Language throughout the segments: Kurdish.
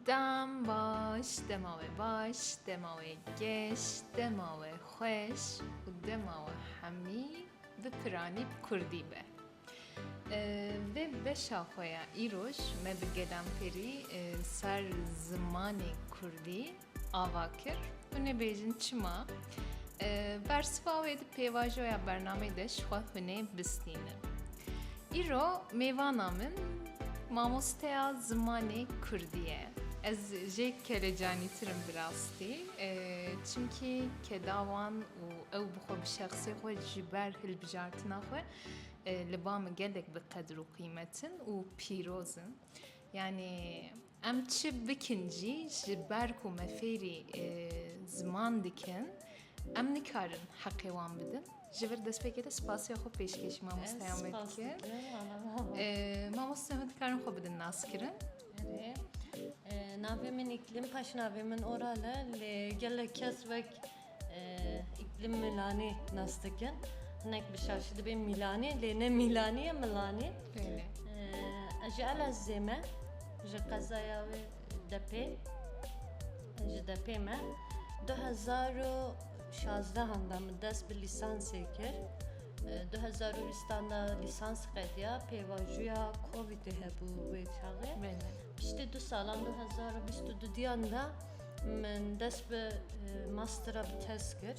Dem baş, dema we baş, dema we geş, dema we xweş û dema we hemî bi piranî bi kurdî be. Vê beşa xwe ya îroj me bi gelan pêrî ser zimanê kurdî ava kir û nebêjin çima bersiva wê di pêvajoya bernameyê de ji xwe hûnê bistînin. Îro mêvana min mamosteya zimanê Kurdî ye. Ez jê kelecanîtir im bi rastî çimkî kedawan û ew bi xwe bi şexsê xwe ji ber hilbijartina xwe li ba min gelek bi qedir û qîmet in û pîroz in. Yanî Em çi bikin jî ji ber ku me fêrî ziman dikin em nikarin heqê wan bidin. Ji vir destpêkê de spasiya xwe pêşkêşî mamosteyan me dikin. Mamosteyan me dikarin xwe bidin naskirin. Navê min îklim, paşnavê min oral e lê gelek kes wek Îklim Milanê nas dikin. Hinek bi şaşî dibê Mîlanê lê ne Mîlanê ye Milanê. Ez ji Elazizê me ji qezaya wê Depê ji Depê me. 2016 handa min dest bi lîsansê kir. 2020 handa lîsans qediya pêvajoya COVIDê hebû wê çaxê. Piştî du salan 2022 diyan da Min dest bi mastera bi tez kir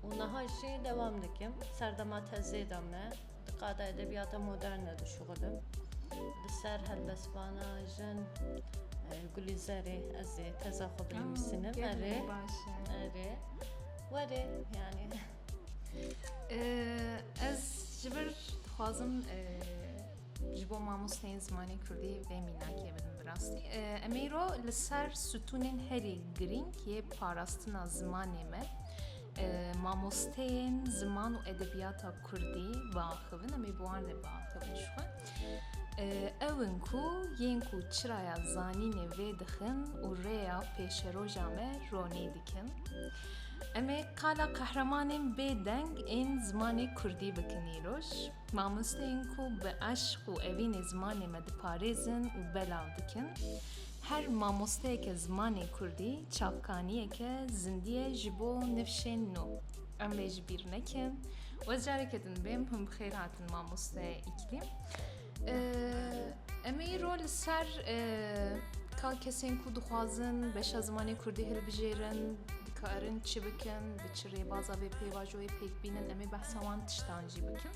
û niha jî dewam dikim. Serdema tezê de me di qada edebiyata moderne dişuxilim. Li ser helbestvana jin Gulîzerê ez ê teza xwe binivîsinim. Erê erê werê yani. Ez ji vir dixwazim Ji bo mamosteyên zimanê Kurdî vê mînakê bidin bi rastî. Em îro li ser sütûnên herî girîng yê parastina zimanê me mamosteyên ziman û edebiyata Kurdî biaxivin em ê bi wan re biaxivin ji xwe. Ew in ku yên ku çiraya zanînê vê dixin û rêya pêşeroja me ronî dikin. Em ê qala qehremanên bêdeng ên zimanê Kurdî bikin îroj. Mamosteyên ku bi eşq û evînê zimanê me diparêzin û belav dikin. Her mamosteyeke zimanê kurdî çavkaniyeke zindî ye ji bo nifşên nû. Em lê ji bîr nekin. Wez careke din bêm hûn bi xêr hatin mamoste Îklîm. Em ê îro li ser ka kesên ku dixwazin beşa zimanê kurdî hilbijêrin dikarin çi bikin, bi çi rêbaza vê pêvajoyê pêk bînin em ê behsa wan tiştan jî bikim.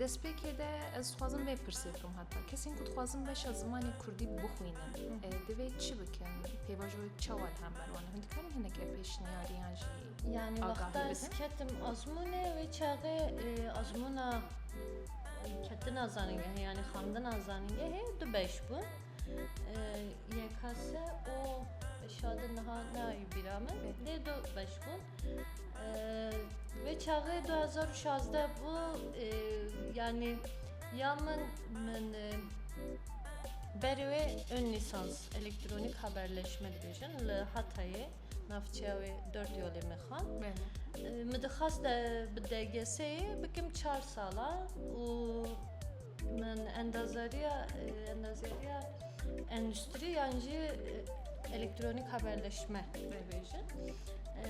Destpêkê de ez dixwazim vê pirsê bikim heta kesên ku dixwazim beşa zimanê Kurdî bixwînin divê çi bikin pêvajoyê çawa li hember wan hûn dikarin hineke pêşniyariyan jî yanî wexta ez ketim azmûnê wê çaxê azmûna ketina zanîngehê yanî xandina zanîngehê du beş bûn yekase û şadin niha nayî bîra min lê du beş bûn Vê çaxê du hezar û şazdeh bû yanî ya min min berê wê ön lîsans elektronîk haberleşme dibêjin li Hatayê navçeya wê dört yolê min xwend. Min dixwest bi DGS'ê bikim çar sala û Min endazariya endazariya endüstri yan jî elektronîk haberleşme bêjin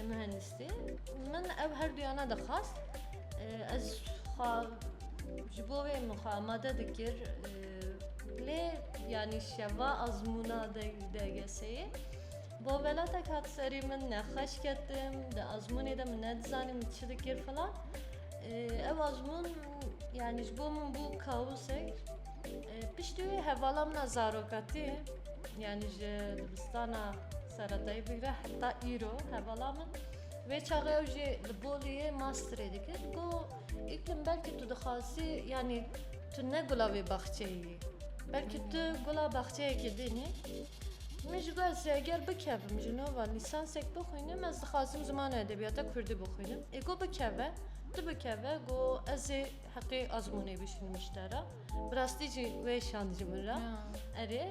mühendistî. Min ev her duyana dixwast ez xwe ji bo wê min xwe amade dikir lê yanî şeva azmûna DGS'yê bo velatek hat serî min nexweş ketim di azmûnê de min nedizanî min çi dikir filan ew azmûn Yani ji bo min bû kaosek. Piştî wê hevala min a zarokatî yani ji dibistana seredayî bigre heta îro hevala min wê çaxê ew jî li Boliyê masterê dikir ku îklim belkî tu dixwazî yani tu ne gula wê baxçeyî belkî tu gula baxçeyekê dînî Min ji ber eger bikevim ji nava lîsansek bixwînim ez dixwazim zimana edebiyata kurdî bixwînim ê ku bikeve Ti bikeve go ez ê heqê azmûnê bişînim ji te re. Bi rastî jî wê şand ji min re. Erê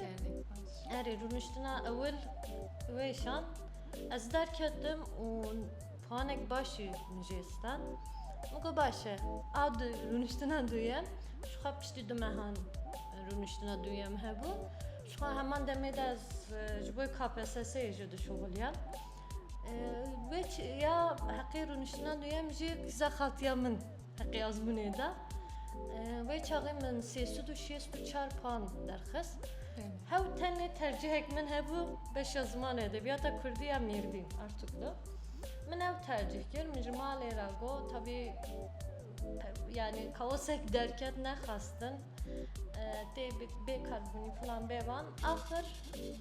erê rûniştina ewil wê şand ez derketim û puanek baş jî min jê stand. Min got baş e. A du rûniştina duyem jixwe piştî du mehan rûniştina duyem hebû. Jixwe heman demê de ez ji bo KPSS'ê jî dişuxiliyam. Wek ya heqê rûniştina nûyem jî kîza xatiya min heqê azmûnê da. Wê çaxê min sêsûd û şêst û çar pan derxist. Hew tenê tercihek min hebû beşa zimanê edebiyata Kurdî ya Mêrdîn, Artuklu. Min ew tercih kir, min ji malê re got tabî yani kaosek derket nexwestin. Tê bêkar bûnî filan bêvan axir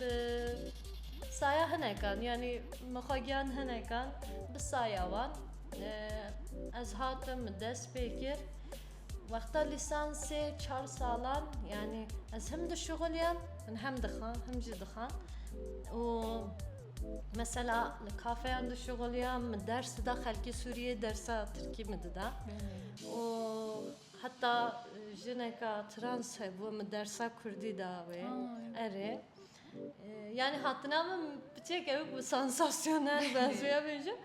bi saya hinekan yanî min xwe giyan hinekan bi saya wan ez hatim min dest pê kir wexta lîsansê çar salan yanî ez him dişuxiliyam min hem dixwam him jî dixwam û Mesela li kafeyan dişuxiliyam min ders dida xelkê Sûriyê dersa Tirkî min dida û Heta jineka trans hebû min dersa kurdî da wê. Erê. Yani hatina min piçek ew bi sansasyonel benziya bêjim.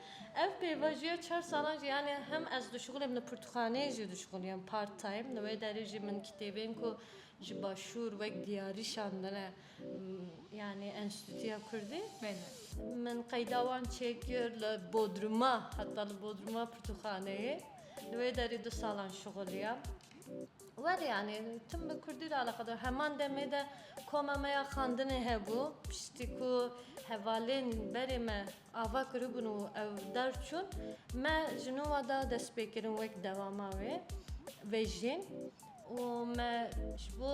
Ev pêvajiya çar salan jî yani hem ez dişixulem li pirtûxaneyê jî dişixuliyam part time. Li wê derê jî min kitêbên ku ji başûr wek diyarî şandine yani enstîtuya kurdî. Min qeyda wan çêkir li bodruma heta li bodruma pirtûxaneyê. Li wê derî du salan şixuliyam. Welê yanî tim bi kurdî re eleqedar. Heman demê de koma me ya xandinê hebû. Piştî ku hevalên berê me ava kiribûn û ew derçûn, me ji nû wa da destpêkirin wek dewama wê vejîn. û me ji bo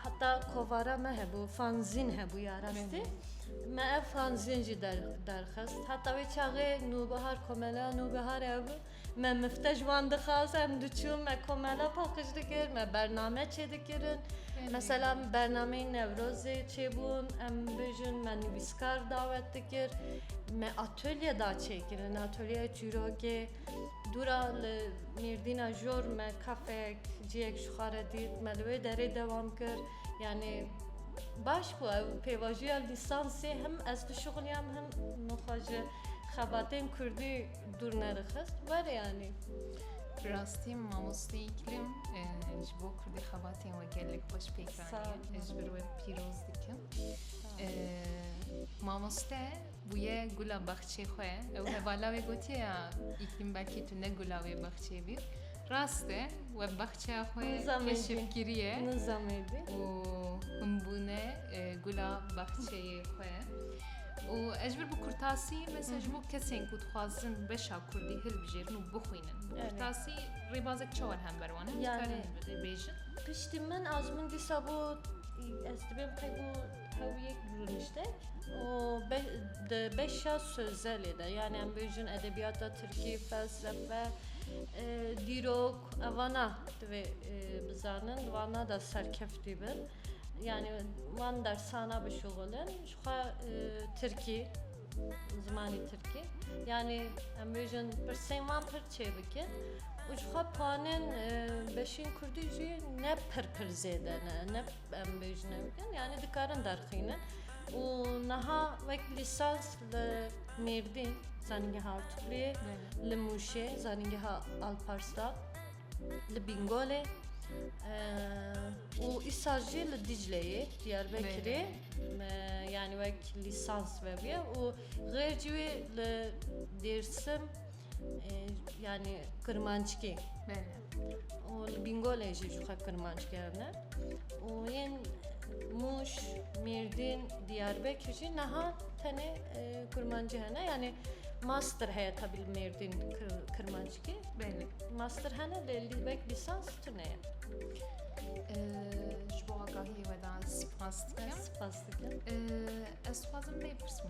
heta kovara me hebû fanzîn hebû ya rastî me ev fanzîn jî derxist heta wê çaxê nûbihar komela nûbihar hebû me mifte ji wan dixwaz em diçûn me komela paqij dikir me bername çê dikirin mesela bernameyên newrozê çêbûn em bijin me nivîskar dawet dikir me atolye da çêkirin atolyeya çîrokê Dûra li Mêrdîna Jor me kafeyek ciyek ji xwe re dît me li wê derê dewam kir yanê baş bû ew pêvajoya lîsansê him ez dişuxiliyam him min xwe ji xebatên kurdî dûr nerixist were yanî. Bi rastî mamoste îklim e, ji bo kurdî xebatên we gelek xweş pêk anî. Ez ji ber we pîroz dikim. E, mamoste Bûye gula baxçê xwe. Ew hevala wê gotiye ya Îklîm belkî tu ne gula wê baxçê bî. Rast e, we baxçeya xwe keşif kiriye û hûn bûne gula baxçeyê xwe. Û ez ji ber bi kurtasî mesela ji bo kesên ku dixwazin beşa kurdî hilbijêrin û bixwînin bi kurtasî rêbazek çawa li hember wan e? Dikarîn bibêjin? Piştî min a ji min dîsa got ez dibêm qey bû Hewiyek bi rûnişte û di beşa sozelê de yanî em bêjin edebiyata tirkî, felsefe, dîrok evana divê bizanin di vana de serkeftî bin. Yani van dersana bişuxulin ji xwe tirkî zimanî tirkî yani em bêjin pirsên van pir çêbikin û ji xwe panin beşên kurdî jî ne pir pir zêde ne ne Em bêjine bikin yani dikarin derxînin û niha wek lîsans li Mêrdîn zanîngeha Artûkliyê li Mûşê zanîngeha Alparslan li Bîngolê û îsal jî li Dîcleyê Diyarbekirê yani wek lîsans vebiye û xêr cî wê li Dêrsim yani Kirmanckê. û li Bîngolê jî ji xwe kirmanc kerine û yên Mûş, Mêrdîn, Diyarbekir jî niha tenê kurmancî hene yanê master heye tabi li Mêrdîn kirmancikê master hene lê li wek lîsans tune ye. Ji bo agahiyê we dan spas dikim. Spas dikim. Ez xwazim bê pirsim.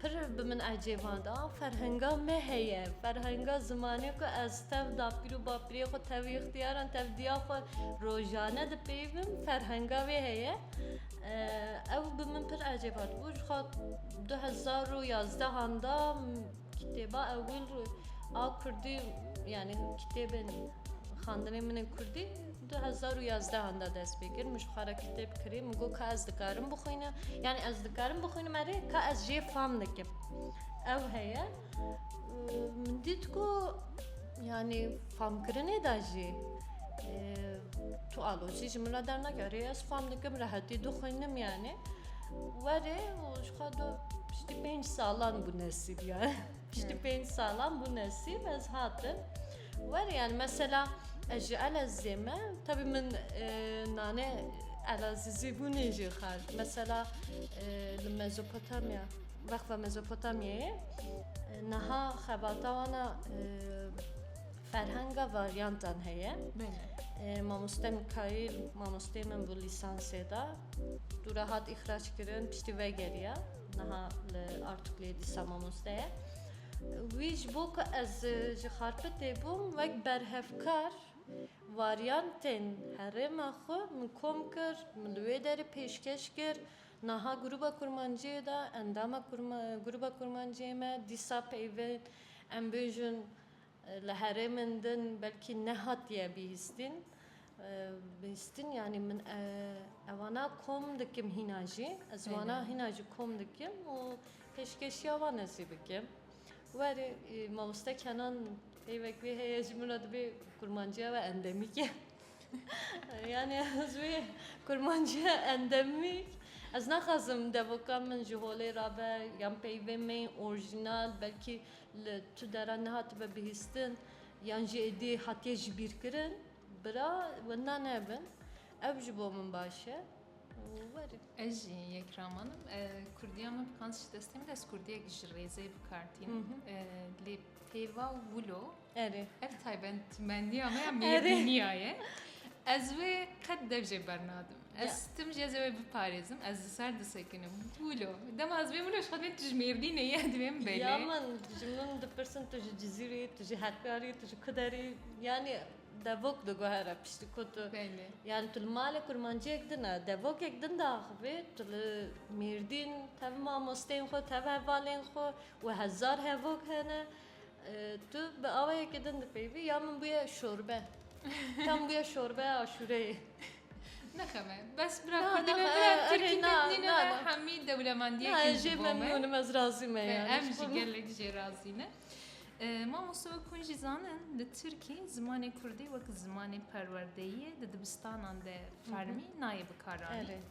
Pir bi min ecêba da, ferhenga me heye, ferhenga zimanê ku ez tev dapîr û bapîrê xwe tev îxtiyaran, tev diya xwe rojane dipeyivim, ferhenga wê heye. Ew bi min pir ecêba dibû. Ji xwe du hezar û yazdehan da kitêba ewil a kurdî yanî kitêbên xandinên min ên kurdî Du hezar û yazdehan de dest pê kir min ji xwe re kitêb kirî min got ka ez dikarim bixwînim yanî ez dikarim bixwînim erê ka ez jê fam dikim ew heye min dît ku yanî famkirinê de jî tu alozî ji min re dernakî erê ez fam dikim rehetî dixwînim yanî werê û ji xwe re piştî pênc salan bû nesîb yanî Piştî pênc salan bû nesîb ez hatim werê yani mesela ez ji Elezizê me tabi min nane Elazizî bûnê jê xar mesela li Mezopotamya wexva Mezopotamyayê niha xebata wana ferhenga varyantan heye mamoste Mikail mamostê min bû lîsansê de dû re hat îxraç kirin piştî vegeriya Niha li Artuklê dîsa mamoste ye. Wî ji bo ku ez ji Xarpetê bûm wek berhevkar varyantên herêma xwe min kom kir, min li wê derê pêşkeş kir. Niha grûba kurmanciyê de endama grûba kurmanciyê me dîsa peyvên em bêjin Li herêmên din belkî nehatiye bihîstîn. Bihîstîn yanî min evana kom dikim hîna jî. Ez wana hîna jî kom dikim û pêşkêşiya wan ez jî bikim. Werî mamoste Kenan peyvek wê heye ji min re dibê kurmanciya we endemîk e. Yanî ez wê kurmanciya endemîk ez naxwazim devoka min ji holê re be yan peyvê me yên orjînal belkî Li tu dera nehatibe bihîstin yan jî êdî hatiye jibîrkirin, bira winda nebin. Ev ji bo min baş e û werin. Ez jî yek ramanim. Kurdiya min bi qans ji destê min ez kurdiyek ji rêzê bi kar tînim. Lê pêva û wilo Erê. ev taybetmendiya me ya mêrdîniya ye. Ez wê qet dev jê bernadim. Ez stim jî ez ê wê biparêzim. Ez li ser disekinim. Gulo. Dema ez vê min ji xwedê tu ji Mêrdînê yî ez vêm belê. Ya min ji min dipirsin tu ji Cizîrê yî, tu ji Hekrarê yî, tu ji Kuderê yî. Yanî devok diguhere piştî ku tu yanî tu li malê kurmanciyek din e. Devokek din de axivê tu li Mêrdîn tev mamosteyên xwe, tev hevalên xwe û hezar hevok hene. Tu bi awayekî din dipeyivî ya min bûye şorbe. Ya min bûye şorbeya aşûreyê. Nexeme. Bes bira Kurdî me bira Tirkî me nîne me hemî dewlemendiyekê ji bo me. Ez jê memnûn im ez razî me ya. Em jî gelek jê razî ne. Mamoste wek hûn jî zanin li Tirkî zimanê Kurdî wek zimanê perwerdeyiyê di dibistanan de fermî nayê bikaranîn.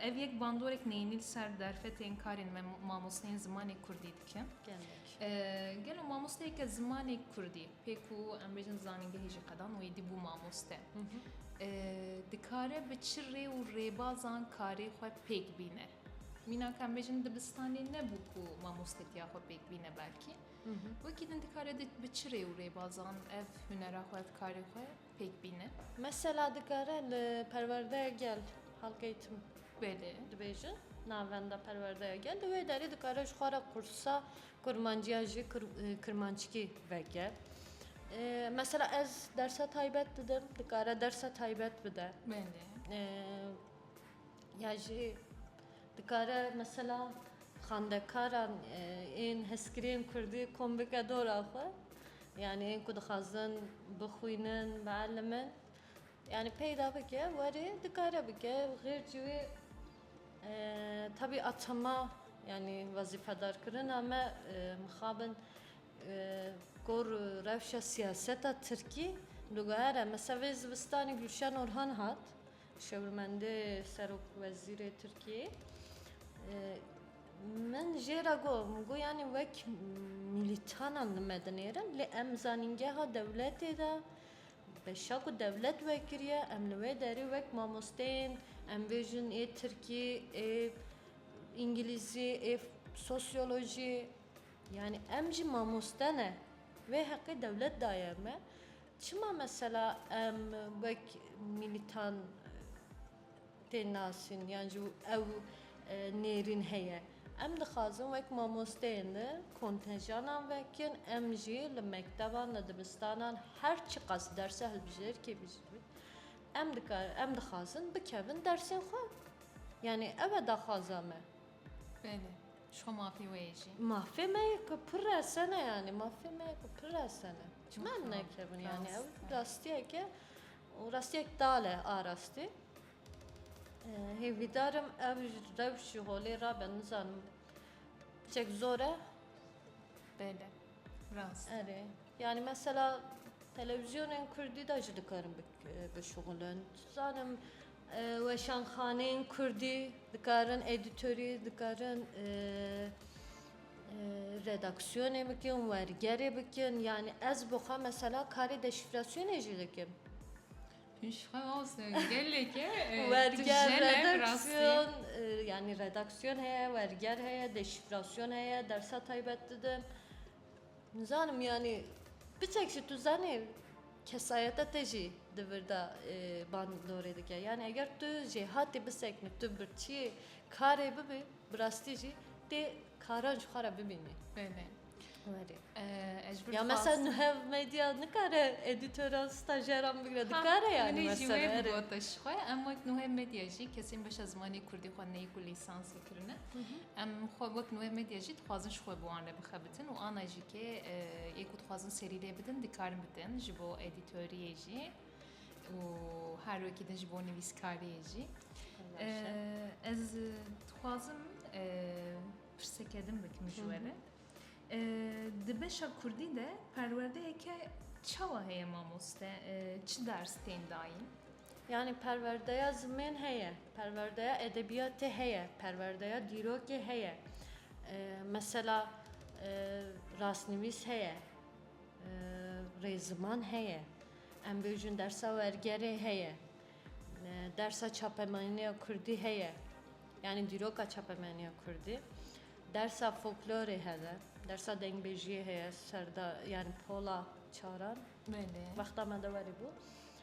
Ev yek bandorek neyînî li ser derfetên karên me mamosteyên zimanê Kurdî dikin. Gelo mamosteyeke zimanê kurdî pê ku em bêjin zanîngehê jî qedan wê dî bû mamoste dikare bi çi rê û rêbazan karê xwe pêk bîne? Mîna ka em bêjin dibistanê nebû ku mamostetiya xwe pêk bîne belkî wekî din dikare bi çi rê û rêbazan ev hunera xwe ev karê xwe pêk bîne. Mesela dikare li perwerdeya gel halkeyê tim Belê. dibêjin navenda perwerdeya gel di wê derê dikare ji xwe re qursa kurmanciya ji kirmanckî veke. Mesela ez dersa taybet didim dikare dersa taybet bide. Belê. Ya jî dikare mesela xandekaran ên heskiriyên kurdî kom bike dora xwe. Yanî hênku dixwazin bixwînin, bielîmin yanî peyda bike warê dikare bike xêr jî wê tevî a çema yanî wezîfedarkirina me mixabin gor û rewşa siyaseta tirkî diguhere. Mesela vê zivistanê Gulşen Orhan hat Şêwirmendê Serokwezîrê Tirkiyeyê min jê re got, min got yanî wek mîlîtanan li me dinêrin lê em zanîngeha dewletê de beşa ku dewlet wekiriye em li wê derê wek mamosteyên em bêjin ê tirkî, ê îngilîzî, ê sosyolojî yanî em jî mamoste ne. Vê heqê dewlet daye me. Çima mesela em wek mîlîtan tên nasîn yan jî ew nêrîn heye? Em dixwazin wek mamosteyên li kontenjanan vekin, em jî li mekteban, li dibistanan her çiqas derse hilbijêr kê bijîbin em dikarin, em dixwazin bikevin dersên xwe. Yanî ev e daxwaza me. Belê. Ji xwe mafê wê ye jî. Mafê me ye ku pir resene yanî mafê me ye ku pir resene. Çima em nekevin yanî ew rastiyek e û rastiyek tal e a rastî. Hêvîdar im ev rewş ji holê rabe nizanim hiçek zor e. Belê. Rast. Erê. Yanî mesela telewîzyonên kurdî de jî dikarin bikin. bişuxulin. Dizanim weşanxaneyên kurdî dikarin edîtorî, dikarin redaksiyonê bikin, wergerê bikin yanî ez bi xwe mesela karê deşîfrasyonê jî dikim. Werger redaksiyon yanî redaksiyon heye, werger heye, deşîfrasyon heye, dersa taybet didim. Nizanim yanî piçek jî tu zanî kesayeta te jî di vir de bandorê dike. Yanî eger tu jê hatî biseknî, tu bi çiyê karê bibî bi rastî jî tê karan ji xwe re bibînî. Ya mesela nuhev medya nikare edîtoran stajeran bigire dikare yanî gotiş xwe em wek nuhev medya jî kesên beşa zimanê Kurdî xwe neyî ku lîsansê kirine em xwe wek nuhev medya jî dixwazin ji xwe bi wan re bixebin. Tin û ana jî kê yê ku dixwazin serî lê bidin dikarin bikin ji bo edîtoriyê jî û her wekî din ji bo nivîskariyê jî. Ez dixwazim pirseke din bikim ji we re. Di beşa Kurdî de perwerdeyeke çawa heye mamoste? Çi ders tên dayîn? Yanî perwerdeya zimên heye, perwerdeya edebiyatê heye, perwerdeya dîrokê heye. Mesela rastnivîs heye, rêziman heye, em bêjin dersa wergerê heye, dersa çapemenîya kurdî heye, yanî dîroka çapemenîya kurdî, dersa foklorê heve, dersa dengbêjiyê heye, serda yanî pola çaran wexta me de werî bû.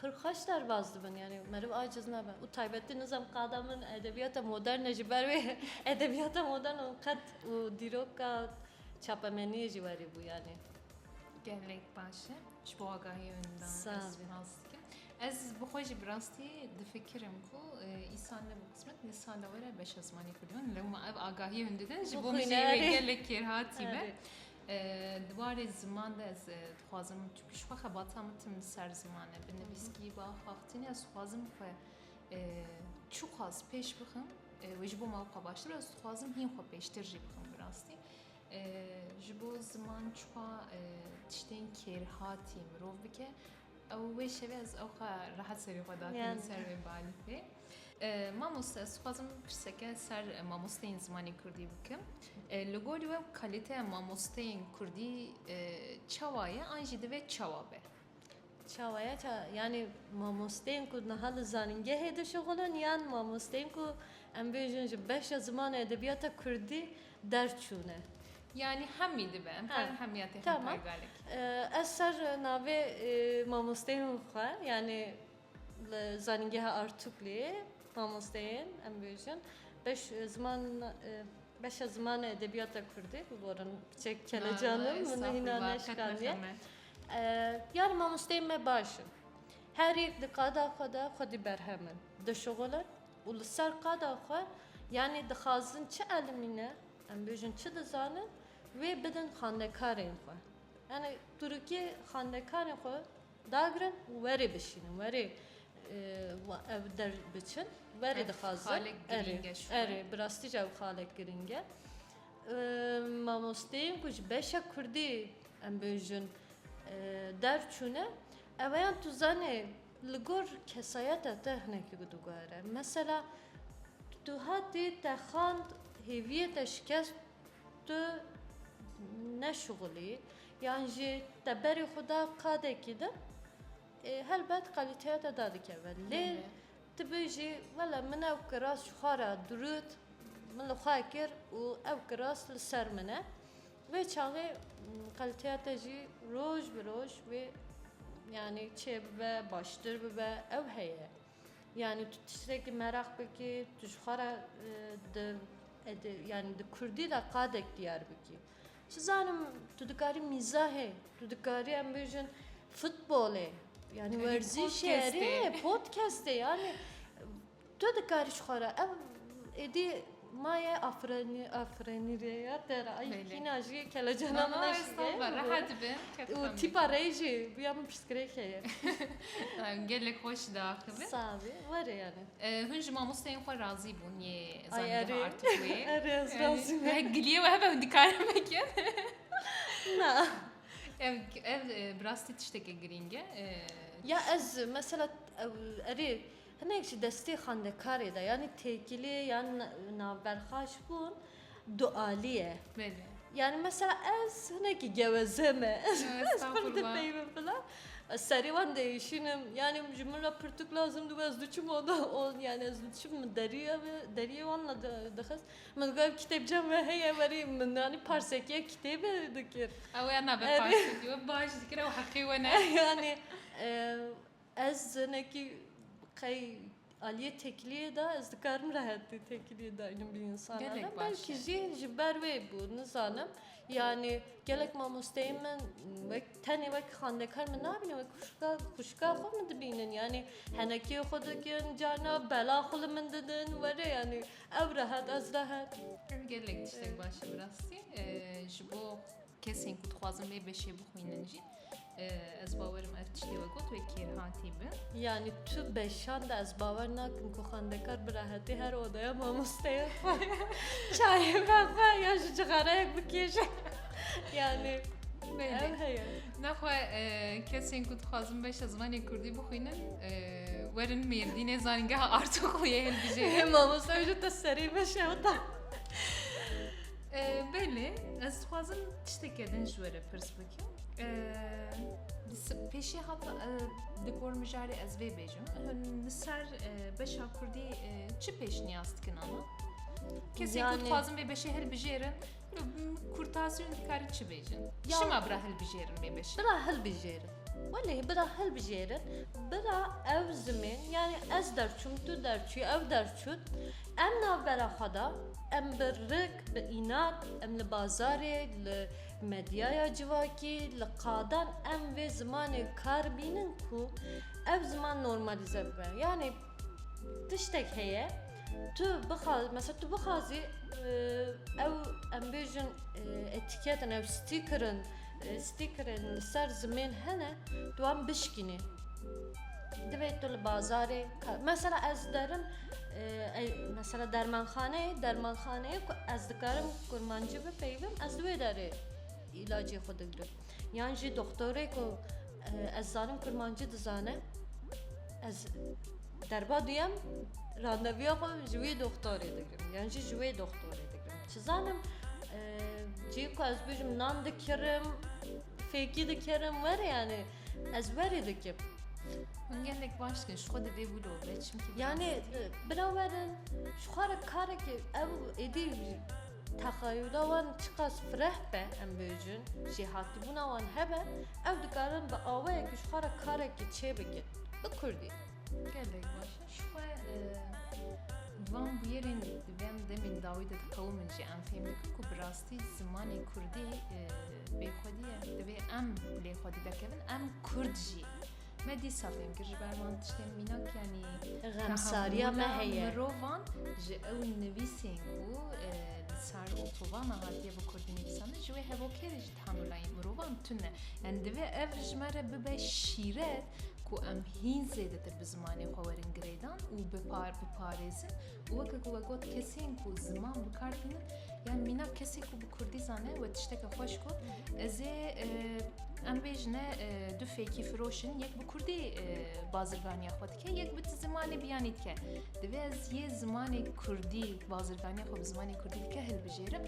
Pir xweş derbas dibin yanî meriv aciz nabe û taybetî nizam qada min edebiyata moderne ji ber wê edebiyata moderne û qet û dîroka çapemeniyê jî werî bû yanî. Gelek baş e ji bo agahî winda ez spas dikim. Ez bi xwe jî bi rastî difikirim ku î sal ne bi qismet ne sal e were beşa zimanê kurdî lewma ev agahî windidin ji bo gelek kêrhatî be. Di warê ziman de ez dixwazim çunki ji xwe xebata min tim li ser ziman e. Bi nivîskî bi axaxtînê ez dixwazim xwe çiqas pêş bixim wê ji bo me wexwe baştir ez dixwazim hîn xwe pêştir jî bixim bi rastî. Ji bo ziman çiqa tiştên kêrhatî mirov bike Ew wê şevê ez ew xwe rehet serê xwe datiye li ser wê balîfê. Mamoste ez xwazim pirseke ser mamosteyên zimanê Kurdî bikim. Li gorî we kalîteya mamosteyên Kurdî çawa ye an jî divê çawa be? Çawa ye ça yanî mamosteyên ku niha li zanîngehê dişixulin yan mamosteyên ku em bêjin ji beşa ziman û edebiyata Kurdî derçûne. Yanî hemî dibe em karin hemiya tê xwe pay galek. Ez ser navê mamosteyên xwe yanî li zanîngeha Artûklê mamosteyên em bêjin beş ziman beşa zimanê edebiyata Kurdî biborin çek kelecanim min hîna neşikaniye. Yani mamosteyên me baş in. Her yek di qada xwe de xwedî berhemin. Dişixulin Û li ser qada xwe, yanî dixwazin çi elmî ne, em bêjin çi dizanin, wê bidin xandekarên xwe. Yanî Turkiyê xandekarên xwe dagirin û werê bişînin, werê ev der biçin, werê dixwazin. Erê, bi rastî jî ew xalek girîng e. Mamosteyên ku ji beşa kurdî em bêjin derçûne, eweyan tu zanê, Li gor kesayeta te hinekî bi dûgar e. Mesela tu hatî te xand hêviyê te şikest tu neşixulî yan jî te berê xwe da qadekî din ê helbet qalîteya te dadikeve. Lê tu bijî wele min ew kiras ji xwe re dirût min li xwe kir û ew kiras li ser min e. Vê çavê qeltiya te jî roj bi roj wê yanî çêbibe, baştir bibe ew heye. Yanî tu tiştekî meraq bikî, tu ji xwe re di yanî di kurdî de qadek diyar bikî. Çi zanim tu dikarî mîzahê, tu dikarî em bêjin futbolê yanî werzîşê rê, podkestê yanî. Tu dikarî ji xwe re ev êdî maye afrenî afrenî rê ya te re ay kîna jî kelecana min eşî rehet be û tîpa rey jî bûya min pirsgirêk heye gelek xweş da axivin sağ bî were yani hûn ji mamosteyên xwe razî bûn yê zanî artık wê erez razî me giliye we hebe dikarim bikin na ev ev birastî tiştekê girînge ya ez mesela erê Hinek ji destê xwendekarê de yanî têkilî yan navberxaş bûn dualîye. Belê. Yanî mesela ez hinekî geweze me. Ez pir dipeyimin filan. Ez serê wan diêşînim. Yanî ji min re pirtûk lazim dibû ez diçûm oda yanî ez diçûm min derîye ve derîyê wan re dixist. Min digot ev kitêbcan ve heye werî min yanî parsekiya kitêbe dikir. Ew ya navberxaş kir. Baş dikir ew heqê we ne. Yanî Ez jinekî qey aliyê tekiliyê de ez dikarim rehetî tekiliyê daynim bi însanan re. Belkî jî ji ber wê bû nizanim. Yanî gelek mamosteyên min wek tenê wek xwendekar min nabînin wek xwişka xwişka xwe min dibînin. Yanî henekiyê xwe dikin carna bela xwe li min didin were yanî ew rehet ez rehet. Gelek tiştek baş e bi rastî ji bo Kesên ku dixwazin vê beşê bixwînin jî ez bawer im ev tiştê we got wê kêrhatî bi. Yanî tu beşan de ez bawer nakim ku xwendekar bi rehetî her odaya mamosteya xwe çayê ve xwe ya ji cixareyek bikêje. Yanî ev heye. Nexwe kesên ku dixwazin beşa zimanê Kurdî bixwînin werin mêrdînê zanîngeha Artoxliyê hilbijêrin. Mamoste ji te serî beşe ota. Belê, ez dixwazim tiştekê din ji were pirs bikim. Pêşê hata di gor mijarê ez vê bêjim. Li ser beşa Kurdî çi pêşniyaz dikin ana? Kesê ku dixwazin vê beşê hilbijêrin, kurtasyon dikari çi bêjin? Şima bira hilbijêrin vê beşê? Bira hilbijêrin. Welê bira hilbijêrin, bira ew zimên, yani ez derçûm, tu derçû, ew derçûn, Em navbera xwe da, em bi rik, bi înat, em li bazarê, li medyaya civakî, li qadan em vê zimanê kar bînin ku ev ziman normalîze bibe. Yanî tiştek heye tu bixa mesela tu bixwazî ew em bêjin etîketin ew stîkirin stîkirên li ser zimên hene tu wan bişkînî. Divê tu li bazarê mesela ez derim Mesela dermanxaneyê dermanxaneyê ku ez dikarim kurmancî bipeyivim ez li wê derê îlacê xwe digirim yan jî doxtorê ku ez zanim kurmancî dizane ez derba duyem randevuya xwe ji wî doxtorê digirim yan jî ji wê doxtorê digirim çi zanim cihê ku ez bijim nan dikirim fêkî dikirim were yanî Ez werî dikim. Hûn gelek baş dikin, ji xwe di vê wilo ve çimkî Yanê bila werin ji xwe re karekê ew êdî texayûla wan çiqas fireh be em bêjin jê hatibûna wan hebe ew dikarin bi awayekî ji xwe re karekî çêbikin bi kurdî. Gelek baş e. Ji xwe di van bûyerên di van demên dawî de diqewimin jî em fêm dikin ku bi rastî zimanê kurdî Bêxwedî ye. Divê em lê xwedî derkevin, em Kurd jî. Me dîsa fêm kir ji ber van tiştên mînak yanî xemsariya me heye. Mirovan ji ew nivîsên ku e, li sar otobana hatiye bi Kurdî nivîsandin ji wê hevokêrê jî tanulayên mirovan tune. Yani divê ev ji me re bibe şîret ku em hîn zêdetir bi zimanê xwe werin girêdan û biparêzin Weke ku we got kesên ku ziman bi kar tînin yan mîna kesê ku bi kurdî zane we tişteke xweş got ez ê em bêjine du fêkî firoşin yek bi kurdî bazirganiya xwe dike yek bi zimanê biyanî dike divê ez yê zimanê kurdî bazirganiya xwe bi zimanê kurdî dike hilbijêrim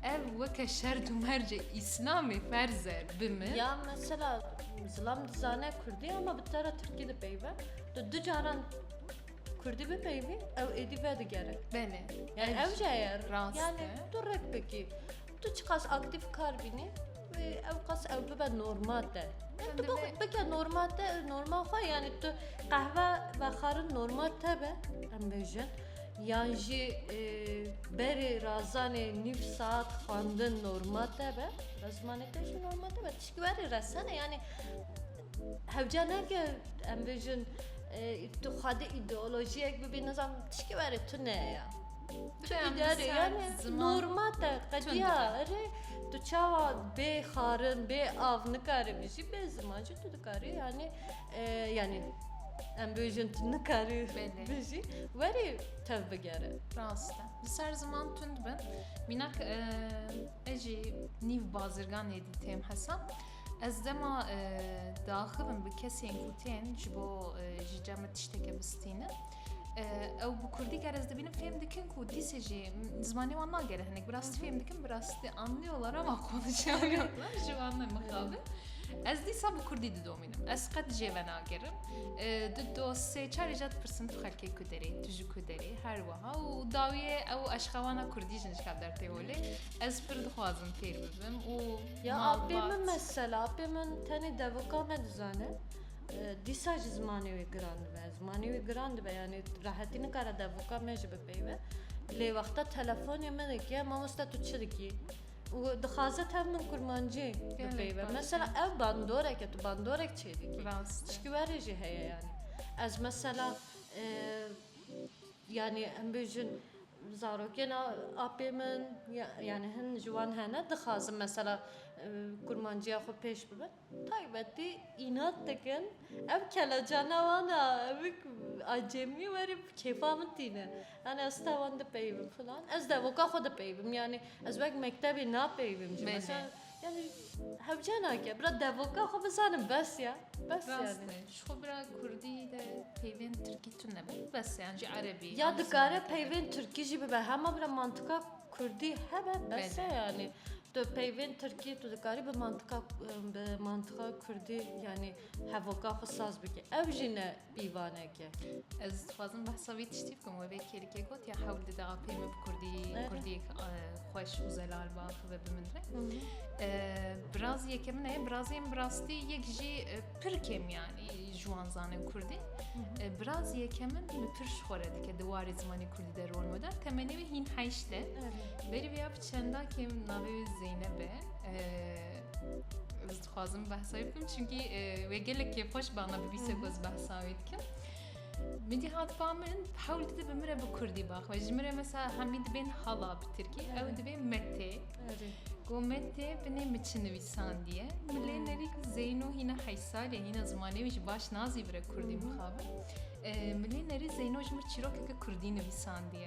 ev weke şer û mercê îslamê ferze bi min ya mesela zilam dizane kurdî ama bi te re tirkî dipeyve tu du caran Kurdî bipeyivî ew êdî vedigere. Belê. Yani ew jî ye rast. Yani tu rek bikî. Tu çiqas aktîf kar bînî wê ew qas ew bibe normal te. Tu bike normal te normal xwe yani tu qehve vexarin normal te be em bêjin. Yan jî e, berê razanê nîv saat xwendin normal te be. Bi zimanê te jî normal te be. Tişkî werê resene yani Hewca ne ke em bêjin tu xwedê îdeolojiyek bibî nizam tişkî were tu ne ye. Tu îdare yani norma te qediya erê tu çawa bê xarin bê av nikare bijî bê ziman jî tu dikarî yani yani em bêjin tu nikarî bijî werî tev bigere. Rast e. Di ser ziman tund bin. Mînak ez jî nîv bazirganê dî têm hesab. Ez dema diaxivim bi kesên ku tên ji bo ji cem min tişteke bistînin. Ew bi kurdî ger ez dibînim fêm dikin ku dîsê jî zimanê wan nagere hinek. Bi rastî fêm dikim bi rastî anlıyorlar ama konuşamıyorum. Ji wan me mixabin. Ez dîsa bi kurdî didomînim. Ez qet jê ve nagerim. Di do sê çarê jî dipirsim tu xelkê ku derê, tu ji ku derê her wiha û dawiyê ew eşxewana kurdî jin ji ka derpê holê. Ez pir dixwazim fêr bibim û Ya apê min mesela, apê min tenê devika me dizane. Dîsa jî zimanê wê giran dibe. Zimanê wê giran dibe yanî rehetî nikare devika me jî bipeyve. Lê wexta telefonê min dike mamoste tu çi dikî? û dixwaze tev min kurmancî bipeyve. Mesela ev bandorek e tu bandorek çê dikî. Çikî werê jî heye yanî. Ez mesela yanî em bêjin Zarokên apê min yanî hin ji wan hene dixwazin mesela kurmanciya xwe pêş bibin taybetî înat dikin ev kelecana wan a ev acêmî werî bi kêfa min tîne yanî ez te wan dipeybim filan ez devoka xwe dipeybim yanî ez wek mektebê napeybim jî. Yani hewce nake. Bira devoka xwe bizanim bes ya. Bes yani. Rast e. Ji xwe bira Kurdî de peyvên Tirkî tu nebe. Bes e. Yan jî Erebî. Ya Anglî dikare nebe. peyvên Tirkî jî bibe. Hema bira mantika Kurdî hebe bes e Bebe. yani. Tu peyvên Tirkî tu dikarî bi mantika bi mantika Kurdî yani hevoka xwe saz bikî. Ew jî ne Pîvaneke. Ez dixwazim behsa wî tiştî bikim wê vê kêlikê got ya hewl dide apê min bi kurdî kurdî xweş û zelal ba bibe bi min re. Birazî yeke min heye birazî min bi rastî yek jî pir kêm yanî ji wan zanin kurdî. Birazî yeke min li pir ji xwe re dike di warê zimanê kurdî de rol meda temenê wê hîn heyşt e. Berî vê ya bi çendakê min navê wê Zeyneb e. Dixwazim behsa wî bikim çunkî wê gelek kêf xweş ba me bibîse ku ez behsa wî dikim. Min dî hat ba min hewl dide bi min re bi kurdî bax we ji min re mesela hemî dibên hala bi tirkî ew dibê metê got metê binê min çi nivîsandiye min lê nevî ku zeyno hîna heysalê hîna zimanê wî ji baş nazî bire kurdî mixabin min lê nerî zeyno ji min çîrokeke kurdî nivîsandiye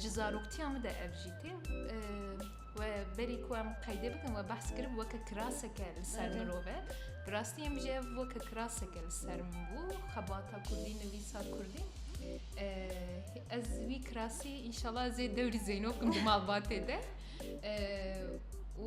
Ji zaroktiya min de ev jî tê we berî ku em qeydê bikin we behs kirib weke kiraseke li ser mirove bi rastî em jî ev weke kiraseke li ser min bû xebata kurdî nivîsa kurdî ez wî kirasî înşallah zê dewrî zeynokim di malbatê de û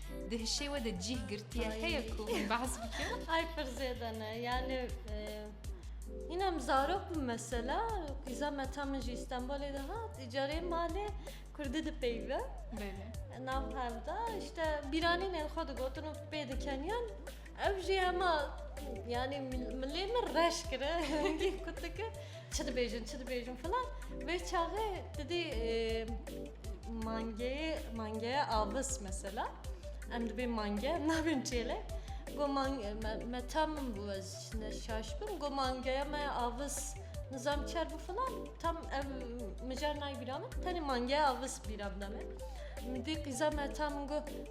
Di hişê we de cîh girtiye heye ku wî behs bike? Ay pir zêde ne. Yani Yine em zarok bû mesela qîza me ta min jî Stenbolê de hat îcarê malê Kurdî dipeyve nav hevda işte bîranînên xwe digotin û pê dikeniyan Ev jî hema yanî milê min reş kire hingî kutike çi dibêjin çi dibêjin filan vê çaxê didî mangeyê mangeye avis mesela em dibê mange nabên çêle got me tam min bû ez ne şaş bim got mangeye me avis nizam çer bû filan tam ev mijar nayê bîra min tenê mangeye avis bîra bide me min dî qîza me tam min got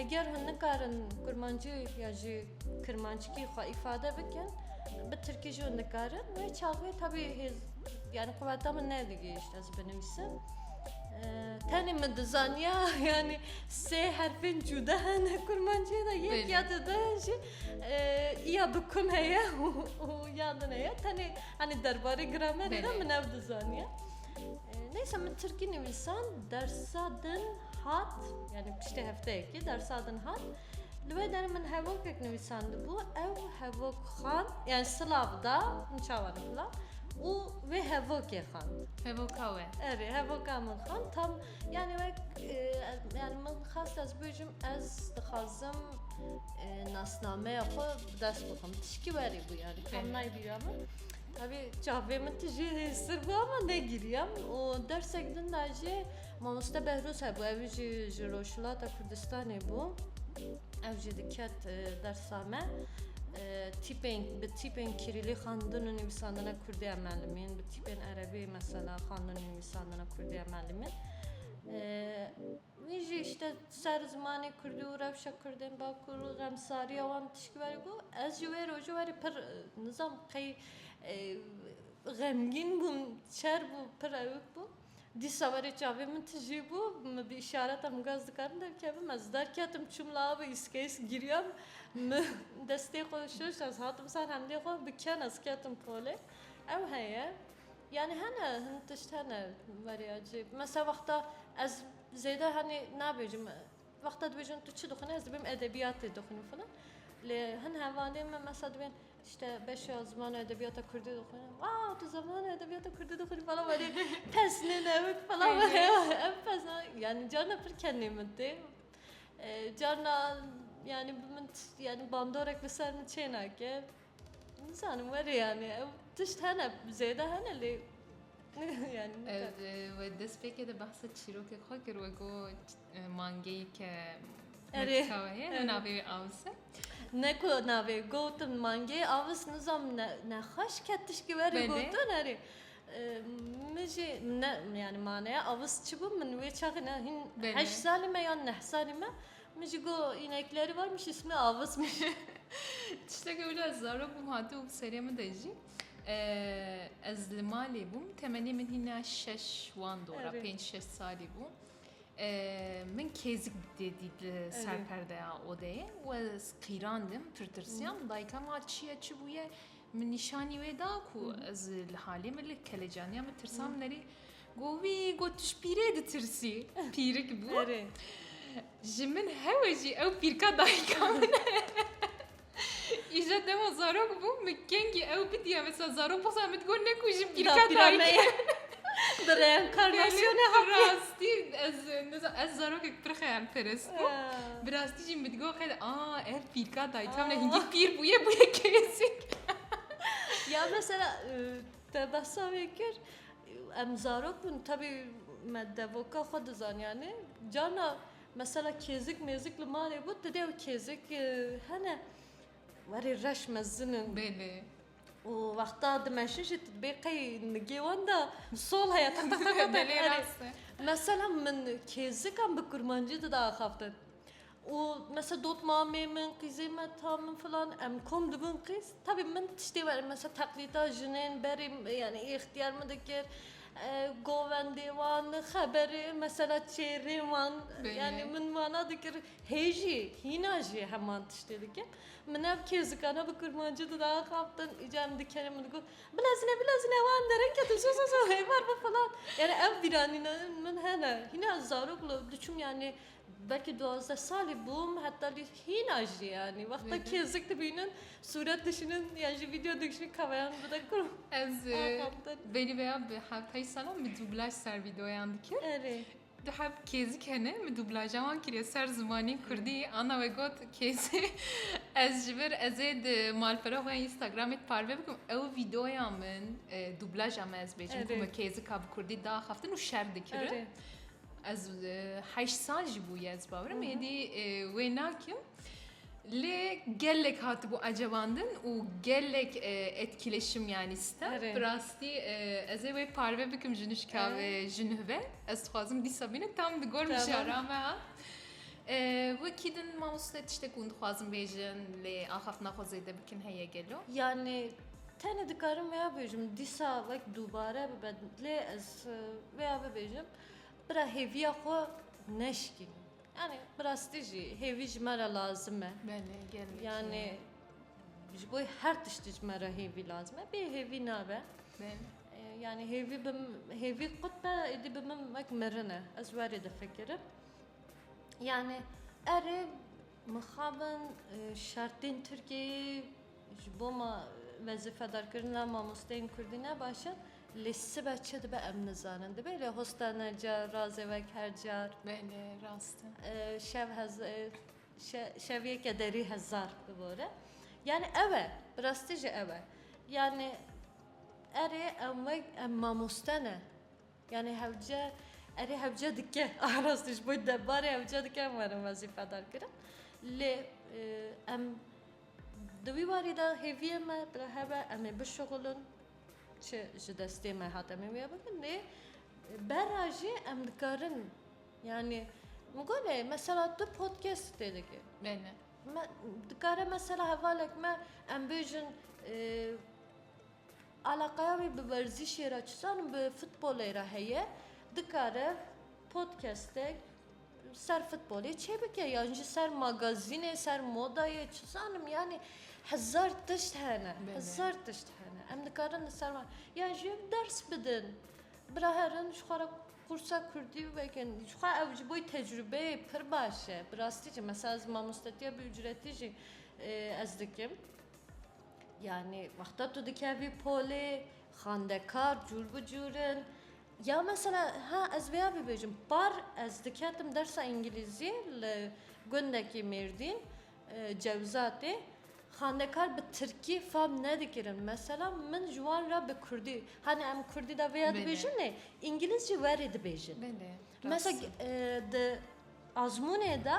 Eger hûn nikarin kurmancî ya jî kirmanckî xwe îfade bikin, bi tirkî jî hûn dikarin. Wê çaxê tevî hêz yani quweta min nedigihîşt ez binivîsim. Tenê min dizaniya yani sê herfên cûda hene kurmanciyê de yek ya di de jî iya bi kum heye û ya din heye. Tenê hani derbarê gramerê de min ev dizaniya. Neyse min Tirkî nivîsan dersa din hat yani piştê hefteyekê dersa din hat li wê derin min hevokek nivîsandibû ew hevok xan yani silav da min çawa dixila û wê hevokê xan Hevoka we. Erê hevoka min xan tam yani wek yani min xas ez bêjim ez dixwazim nasnameya xwe bi dest bixim tişkî werî bû yani tam naybîra min Tevî çavê min tu jî sirb ama negiriyam û dersek din de jî mamoste Behrûz hebû ew jî ji Rojhilata Kurdistanê bû. Ew jî diket e, dersa me. E, Tîpên bi tîpên Kirîlî xandin û nivîsandina Kurdî em elimîn, bi tîpên Erebî mesela xandin û nivîsandina Kurdî em elimîn. E, Wî jî îşte ser zimanê kurdî û rewşa kurdên Bakur û xemsariya wan bi tişkî verî got, Ez ji wê rojê werî pir nizam qey xemgîn bûm, şer bû, pir ewik bû. Dîsa werî çavên min tijî bû, min bi îşareta min got ez dikarim derkevim. Ez derketim çûm li avê îskeyîs giriyam. Min destê xwe şûşt ez hatim ser hemdê xwe bi ken ez ketim polê. Ew heye. Yanî hene hin tişt hene Maria cî mesela wexta ez zêde hanî nabêjim wexta dibêjin tu çi dixwînî ez dibêm edebiyatê dixwînim filan lê hin hevalên min mesela dibên îşte beşa ziman û edebiyata kurdî dixwîne wow tu ziman û edebiyata kurdî dixwînî falan welê pes nê ne wek falan em pes na yanî carna pir kenê min tê carna yanî bi min yanî bandorek bi ser min çênake. Nizanim were yanî ew tişt hene zêde hene lê wê destpêkê de behsa çîrokê xwe kir we got mangeyî ke Erê navê wê avis e ne ku navê gotin mangeyê avis nizam nexweş ket tişkî were gotin erê min jî ne yanî maneya avis çi bû min wê çaxê ne hîn heşt salî me yan neh salî me Min jî got înekleri var min jî simi avis min jî. Tiştekê wilo ez zarok bûm hatibû bi serê min de jî. Ez li malê bûm temenê min hîna şeş wan dora pênc şeş salî bû. Min kêzik dê dît li ser perdeya odeyê we ez qîrandim tirtirsiyam dayika ma çiye çi bûye min nîşanî wê da ku ez li halê min li kelecaniya min tirsam nerî. Hmm. Ku wî got tu ji pîrê ditirsî, pîrik bû. Ji min hewe jî ew pîrka dayika min e. Îja dema zarok bûm min kengî ew bidiya mesela zarok bixsa min digot ne ku ji pîrka dayike. Bi reenkarnasyonê hat. Rastî ez ez zarokek pir xeyal perest bû. Bi rastî jî min digot xeyal a ev pîrka dayika min e hingî pîr bûye bûye kêzik. Ya mesela Te behsa wê kir, em zarok bûn tevî me devoka xwe dizaniyane, carna mesela kêzik mêzik li malê bû, tu dê ew kêzik hene werê reş mezin in. Bêlê. û wexta dimeşin jî dibê qey nigê wan da sol heye teq teq teq teq. Mesela min kêzikan bi kurmancî dide axaftin. û mesela dot mamê min, qîzê me, ta min filan em kom dibûn qîz. Tevî min tiştê were mesela teqlîda jinên berê yanî îxtiyar min dikir. Govendê wan, xeberê mesela çêrê wan yanî min wana dikir. Hê jî hîna jî heman tiştê dikim. Min ev kêzikane bi kurmancî di daxaptin îcar em dikerên min digot bilezine bilezine wan derin ketin zo zo zo hêvar bi filan. Yanî ev bîranîna min hene. Hîna zarok li diçûm yanî Belkî duwazdeh salî bûm heta lî hîna jî yanî wexta kêzik dibînim sûret dişînim yan jî vîdeo dikişînim kameran bide kûr û Ez e, axaftin. belî vêya bi hevtayî salan min dublaj ser vîdeoyan dikir. Erê. Du hev kêzik hene min dublaja wan kiriye ser zimanê kurdî. Anna we got kêzê ez ji vir ez ê di malpera xwe ya Instagramê di parve bikim ew vîdeoya min e, dublaja min ez bêjim ku Erê. min kêzika bi kurdî diaxaftin û şer dikirin. Erê. Ez heşt sal jî bûye ez bawerim êdî wê nakim. Lê gelek hatibû ecebandin û gelek etkileşim yanî stem bi rastî ez ê wê parve bikim ji nişka vê ji nuh ve ez dixwazim dîsa bîne tam di gor mijara me ha. Wekî din mamoste tiştek hûn dixwazin bêjin lê axaftina xwe zêde bikin heye gelo. Yanî tenê dikarim wê bêjim dîsa wek dubare bibe lê ez Tu vêya bibêjim bira hêviya xwe neşikîn. Yani bi rastî jî hêvî ji me re lazim e. Belê gelekî. Yani ji bo her tiştî ji me re hêvî lazim e. Bê hêvî nabe. Belê. Yani hêvî bi hêvî qut be êdî bi min wek mirin e. Ez werê difikirim. Yani erê mixabin şertên Tirkiyeyê Ji bo me wezîfedarkirina mamosteyên kurdî ne baş e, lê sibe çi dibe em nizanin. Dibe lê hosta ne ca razê wek her car. Belê, rast e. Şev hez şev yeke derî hezar bibore. Yanî ew e, bi rastî jî ew e. Yanî erê em wek em mamoste ne. Yanê hewce erê hewce dike rastî ji bo debarê hewce dike em werin wezîfedar kirin lê em di wî warî de hêviyê me bila hebe em ê bişuxulin çi ji destê me hat em ê wê bikin lê berra jî em dikarin yanê min got lê mesela tu podcast tê dikî dikare mesela hevalek me em bêjin Alaqeya wî bi werzîşê re çizanim bi futbolê re heye dikare podcastek ser futbolê çêbike yan jî ser magazînê ser modayê çizanim yanî hezar tişt hene hezar tişt hene em dikarin li ser yan jî ders bidin biraherin ji xwe re qursa kurdî vekin jixwe ew ji bo tecrubeyê pir baş e bi rastî jî mesela ez mamostetiya bi ucretî jî ez dikim. Yanî wexta tu dikevî polê, xandekar cûr bi cûr in. Ya mesela ha ez vêya bibêjim, par ez diketim dersa îngilîzî li gundekî Mêrdîn, Cewzatê, xandekar bi tirkî fam nedikirin. Mesela min ji wan re bi kurdî, hanê em kurdî de vêya dibêjin lê îngilîz jî werê dibêjin. Mesela di azmûnê de.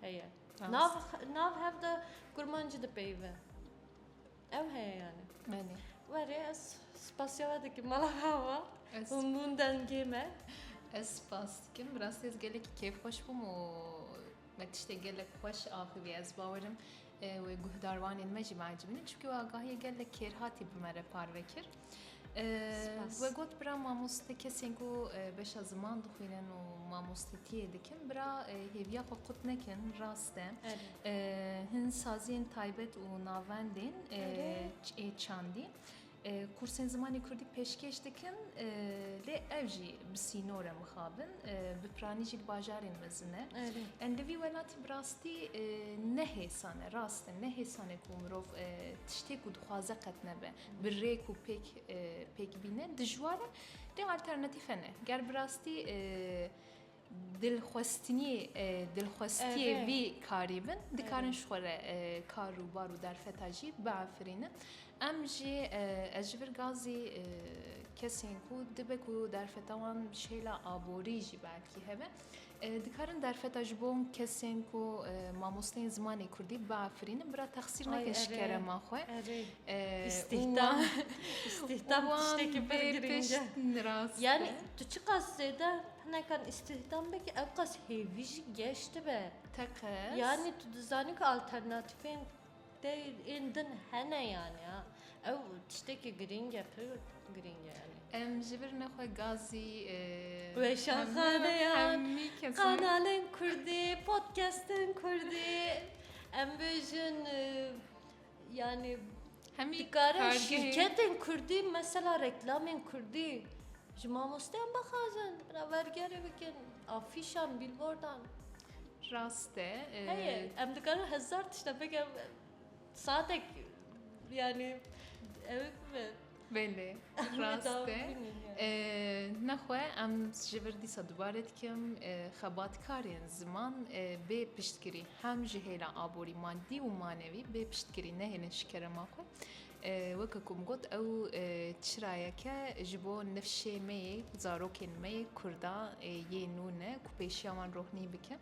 Heye. Nav, nav hev de kurmancî dipeyive. Ew heye yani. Benê. Were ez spasya we dikim mala hava. Ez hûn dengê me. Ez spas dikim. Bi rastî ez gelekî kêfxweş bûm û me tiştê gelek xweş axivî ez bawerim wê guhdarwanên me jî me ecibîne çunkî we agahiyê gelek kêrhatî bi me re parve kir. We got bira mamoste kesên ku beşa ziman dixwînin û mamostetiyê dikin bira hêviya xwe qut nekin rast e hin saziyên taybet û navendên ê çandî. Kursên zimanê Kurdî pêşkêş dikin lê ev jî bi sînore mixabin bi piranî jî di bajarên mezin e. Em di vî welatî bi rastî nehêsane rast e nehêsane ku mirov tiştê ku dixwaze qet nebe. bi rêk û pêk pêk bîne dijwar e lê alternatîf hene. Ger bi rastî dilxwestinî dilxwestiyê vî karî bin dikarin ji xwe re kar û bar û derfeta jî biafirînin. Em jî ez ji vir gazî kesên ku dibe ku derfeta wan şêla aborî jî belkî hebe. Dikarin derfeta ji bo kesên ku mamosteyên zimanê Kurdî biafirînin bira texsîr nekin ji kerema xwe. Îstîhdam îstîhdam tiştekî pir girîng e. Yani tu çiqas zêde hinekan îstîhdam bikî ew qas hêvî jî geş dibe. Teqez. Yani tu dizanî ku alternatîfên Te ên din hene yani a ew tiştekî girîng e pir girîng e yani. Em ji vir ne xwe gazî weşanxaneya kanalên kurdî podcastên kurdî em bêjin yani hemî dikare şîrketên kurdî mesela reklamên kurdî ji mamosteyan bixwazin berabergerê bikin afîşan bîlbordan Rast e. Heye, em dikarin hezar tişta bikin. Saetek yani ew bibe. Belê, rast e. Nexwe em ji vir dîsa dubare dikim xebatkarên ziman bê piştgirî hem ji hêla aborî madî û manevî bê piştgirî nehêlin ji kerema xwe. Weke ku min got ew çirayeke ji bo nifşê me yê, zarokên me yê Kurdan ê yê nû ne ku pêşiya wan rohnî bike.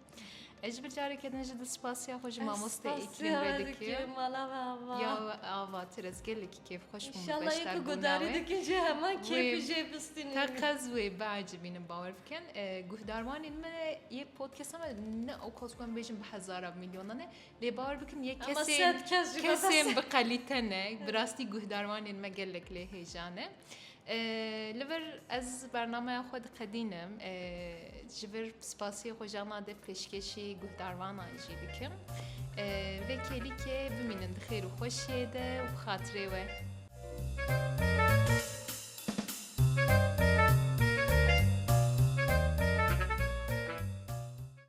Ez ji ber careke din jî di spasiya xwe ji mamoste Îklîm ve dikim. Mala me ava. Ya ava tu ez gelekî kêfxweş bûm. İnşallah yê ku gudarî dikin jî heman kêfî jê bistînin. Te qez wê biecibînin bawer bikin. Guhdarwanên me yê podcasta me ne ew kas ku em bêjin bi hezaran milyonan e. Lê bawer bikin yê kesên kesên bi qelîte ne bi rastî guhdarwanên me gelek lê hêja ne. Li vir ez bernameya xwe diqedînim ji vir spasiyê xwe ji ema de pêşkêşî guhdarvanan jî dikim. Vê kêlîkê bimînin di xêr û xweşiyê de û bi xatirê we.